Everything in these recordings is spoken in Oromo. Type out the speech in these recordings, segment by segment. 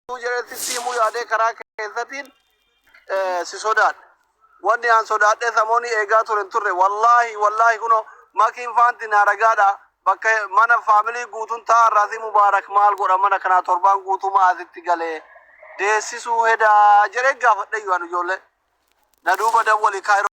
Utuu jedhetti si himuu yaadee karaa keessatiin eh, si sodaadhe. Wanni aan sodaadhee samoonii eegaa ture hin turre. Wallaahi wallaahi kunoo makiin faanti naa ragaadha. Bakka mana faamilii guutuun taa'aa irraa si mubaarak maal godha mana kanaa torbaan guutuu maasitti galee deessisuu hedaa jedhee gaafadhe iyyuu an ijoollee. Na duuba dawwali kaayiroo.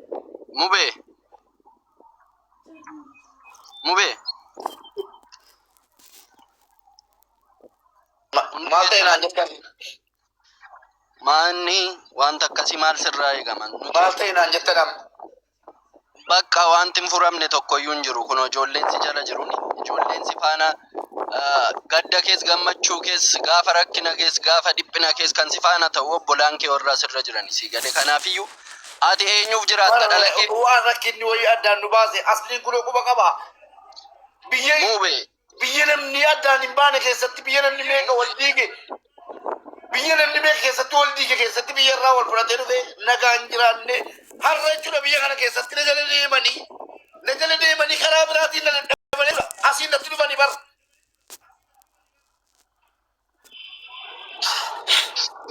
Mube. Mube. Ma- Maal ta'e naan jettan? Maanni wanta akkasii maal sirraa eegama? Nuti Maal ta'e naan jettan amma? bakka wanti hin furamne tokkoyyuu hin jiru. Kun ijoolleen si jala jiru. Ijoolleen si faana ah, gadda kees gammachuu kees gaafa rakkina kees gaafa dhiphina kees kan si faana ta'u obbolaan kee warra sirra jirani si gale kanaafiyyuu Ati eenyuuf jiraatta Bara dhala kee? waan rakkinni wayii addaan nu baase asliin kunoo quba qaba. Biyya Muube. biyya namni addaan hin baane keessatti biyya namni meeqa wal diige biyya namni meeqa keessatti wal diige keessatti biyya irraa wal fudhatee dhufe nagaan hin jiraanne har'a jechuudha biyya kana keessatti na jala deemanii na jala deemanii karaa biraatiin na dadhabanii asiin natti dhufanii bara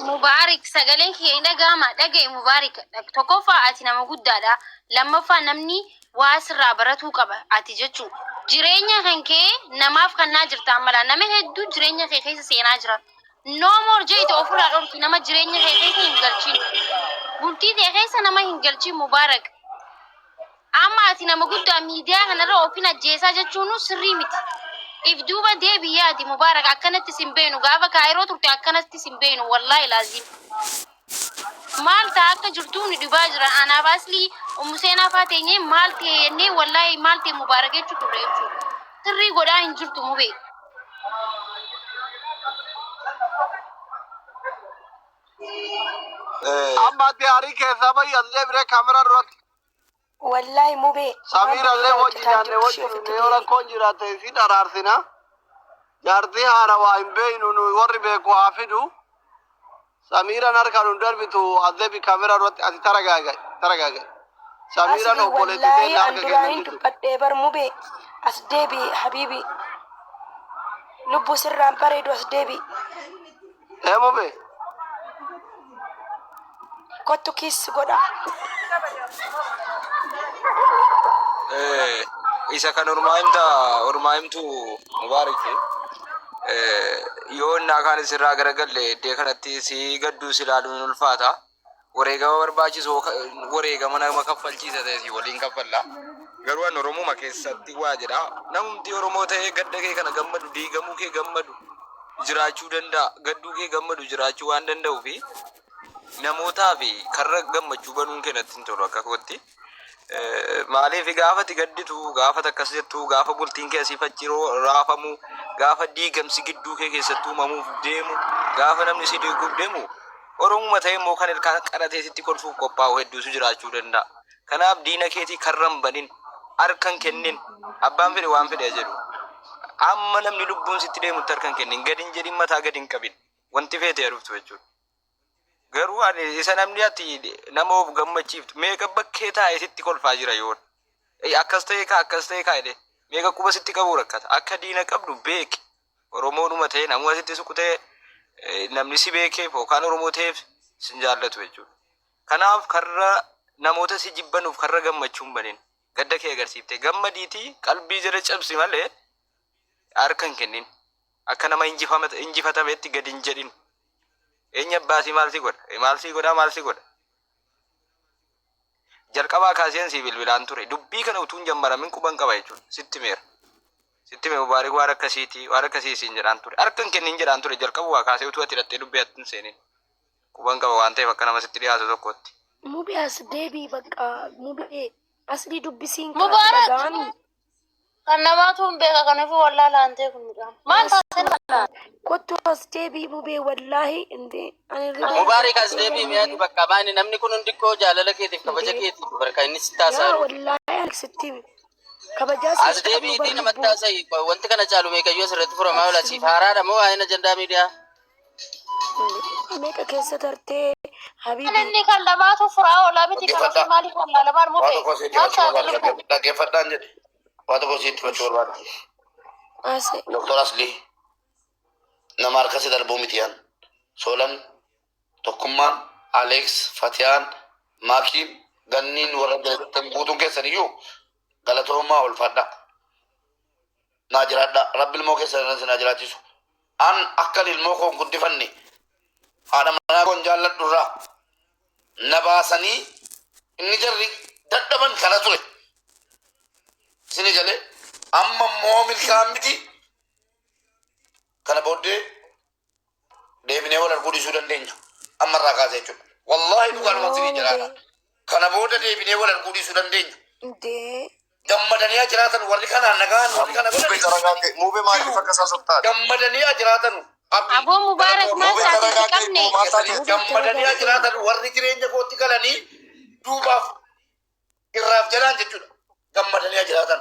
Mubaarik sagaleen kiyya hin dhaga'ama dhaga'i Mubaarik tokkoffaa ati nama guddaadha lammaffaa namni waa sirraa baratuu qaba ati jechuu jireenya kan kee namaaf kannaa jirta ammalaa nama hedduu jireenya kee keessa seenaa jira no more jeete ofirraa dhorki nama jireenya kee keessa hin galchin bultii tee keessa nama hin galchin Mubaarik Amma ati nama guddaa miidiyaa kanarra ofin ajjeesaa jechuunuu sirrii miti. If duuba deebi yaadi Mubaarak akkanatti sin beeynu gaafa Kaayiroo turte akkanatti sin beeynu wallaahi laaziim. Maal ta'a akka jirtuu nu dhibaa jira anaaf Aslii Ummu Seenaa faa teenyee maal ta'e jennee wallaahi maal ta'e Mubaarak jechu turre jechuu. Sirrii godhaa hin jirtu Mubee. Amma ati aarii keessaa bahi as deebiree kaameraa duratti. Wallaahi mubee. Samiira illee wajji nyaanne wajji dhufne yoo rakkoon jiraatte isin araarsina. Jaartii haarawaa hin beeynu nuyi warri beeku haa fidu. Samiiraan harka nu darbitu azebi kaamera duratti ati taragaaga'i taragaaga'i. Samiiraan Asli obboleetti wallaahi teenya harka keenya anduraanin jirtu. dubbadhee bar mubee as deebi habiibi lubbu sirraan bareedu as deebi Ee mube. Kottu kiis si godha. Eh, isa kan ormaa himta ormaa himtu mubaarik eh, yoo innaa kaan isirraa garagalle iddee kanatti si gadduu si ilaaluun hin ulfaata wareegama barbaachisu wareegama nama kaffalchiisa ta'e si waliin kaffalla. Garuu an Oromuma keessatti waa jedha. Namumti Oromoo ta'ee gadda kee kana gammadu, diigamuu kee gammadu jiraachuu danda'a. Gadduu kee gammadu jiraachuu waan danda'uu fi namootaa fi karra gammachuu banuun kee natti hin tolu akka kootti. Eh, Maaliif gaafati gadditu gaafata akkas jettu gaafa bultiin kee asiif achi roo- raafamu gaafa diigamsi gidduu kee keessatti uumamuuf deemu gaafa namni si diiguuf deemu oromuma ta'e immoo kan ilkaan qaratee sitti kolfuuf qophaa'u hedduutu jiraachuu danda'a. Kanaaf diina keetii karra hin banin harka hin kennin abbaan fedhe waan fedhe haa jedhu. Amma namni lubbuun sitti deemutti harka hin kennin gadi hin jedhin mataa gadi hin qabin wanti feete haa dhuftu jechuudha. Garuu ani isa namni ati nama of gammachiiftu meeqa bakkee taa'ee sitti kolfaa jira yoon. Ei, Akkas ta'ee kaa akkas ta'ee kaa jedhee meeqa quba sitti qabuu rakkata. Akka diina qabdu beeki. Oromoonuma ta'ee namuma sitti suqu ta'ee eh, namni si beekeef yookaan Oromoo ta'eef sin jaallatu jechuudha. Kanaaf karra namoota si jibbanuuf karra gammachuu hin banin. Gadda kee agarsiiftee gammadiitii qalbii jala cabsi malee harka hin kennin. Akka nama injifama- injifatameetti gad hin jedhin. Eenyu abbaa sii maal si godha? Eh, Maal sii godhaa maal si godha? Jalqabaa kaaseen sii bilbilaan ture. Dubbii kana utuun jammaramin quban qaba jechuudha. Sitti meera. Sitti mee mubaarik waan akkasiiti waan akkasii siin jedhaan ture. Harka hin kennin jedhaan ture jalqabumaa kaasee utuu ati dhattee dubbii atti hin seenin. Quban qaba waan ta'eef akka nama sitti dhiyaatu tokkotti. Mubee as deebii bakka mubee asli dubbisiin Mubaarak! kaasa dhaga'anii. Kan namaatu hin beeka kanaafuu wallaala hantee kun midhaan. Maal taasise kana? Kottu as deebii bubee wallaahi inti ani irra Mubaarik as deebi'i mi'aatu bakka maani namni kun hundi koo jaalala keetiif kabaja keetiif barka inni si taasaa jiru. Wallaahi ani sitti kabajaa As deebi'iitii namatti taasa'i wanti kana caalu meeqayyoo asirratti furamaa oola siif haaraadha moo waa'een ajandaa miidiyaa? Meeqa keessa tartee habiibi. Inni kan lamaatu furaa olaa miti kan ofii maaliif kan laalamaan Waa murte. tokko sitti himachuu barbaada. Dhagge- Dhaggeeffadhaan jedhe. Waa tokko sitti himachuu barbaada. Ase Doktor Asli nama harkasi darbuu miti yan. Soolan, Tokkummaan, Aleeks, Fatiyaan, Maakiin, Ganniin warra beektan guutuun keessan iyyuu galatoomaa ulfaadhaa. naa jiraadha rabbi ilmoo keessan irra isin haa jiraachisu an akkan ilmoo koon guddifanne haadha manaa koon jaalladhu irraa na baasanii inni jarri dadhaban kana ture isini galee amma immoo milkaan miti kana booddee deebinee wal arguu dhiisuu dandeenya amma irraa kaasa jechuudha wallaahi dhugaadhuma sirii jiraadha kana booda deebinee wal arguu dhiisuu dandeenya Dee. gammadanii haa jiraatan warri kanaan nagaan warri kana Mube godhan taragaate. Mube maaliif akka isaa sobtaate? gammadanii haa jiraatan abdii Aboo Mubaarak Mube maal isaatiif taragaate. qabne? Maal isaatiif qabne? gammadanii haa jiraatan warri jireenya kootti galanii duubaaf irraaf jalaan jechuudha gammadanii haa jiraatan